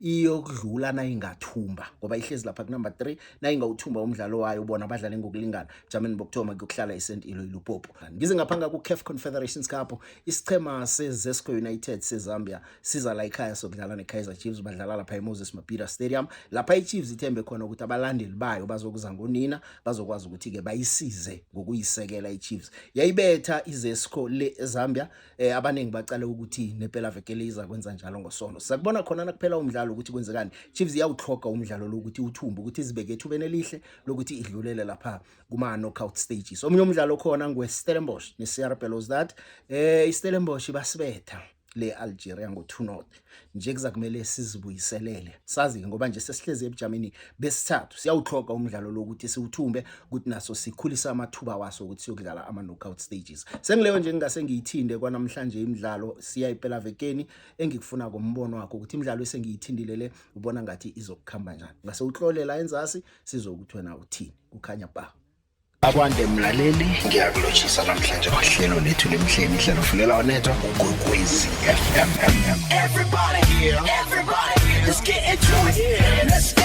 iyokudlula nayingathumba ngoba ihlezi lapha kunumber 3 nayingawuthumba umdlalo wayo bona badlale ngokulingana jameni bokuthoma kuyokuhlala isent ilo ilupopo ngize ngaphanga ku-caf confederations cup isichema sezesco united sezambia siza la ikhaya sokudlala ne-kaizer chiefs badlala lapha emoses mabhida stadium lapha ichiefs ithembe khona ukuthi abalandeli bayo bazokuza ngonina bazokwazi ukuthi-ke bayisize ngokuyisekela ichiefs yayibetha izesco le ezambia eh abaningi bacale ukuthi nepela vekele iza kwenza njalo ngosono sakubona khona nakuphela umdlalo ukuthi kwenzekani Chiefs iyawuthloga umdlalo lokuthi uthumbe ukuthi izibeke ethubeni elihle lokuthi idlulele lapha kuma knockout stages omunye umdlalo khona ngwe Stellenbosch ne CR Belouizdad eh iStellenbosch basibetha le Algeria ngo 2-0 nje kuzakumele sizibuyiselele sazi ngoba nje sesihlezi ebujameni besithathu siyawuxhoga umdlalo lokuthi siwuthumbe ukuthi naso sikhulisa amathuba waso ukuthi siyokudlala ama knockout stages sengileyo nje ngingase ngiyithinde kwanamhlanje imidlalo siya impela vekeni engikufuna ngombono wakho ukuthi imidlalo esengiyithindile le ubona ngathi izokukhamba njani ngase uhlolela enzasi sizokuthi wena uthini kukhanya ba Akwande mlaleli ngiyakulotshisa namhlanje kwahlelo lethu lemhleni ihlelo fulela onethwa ugwekwezi FM everybody here everybody here let's get into it let's get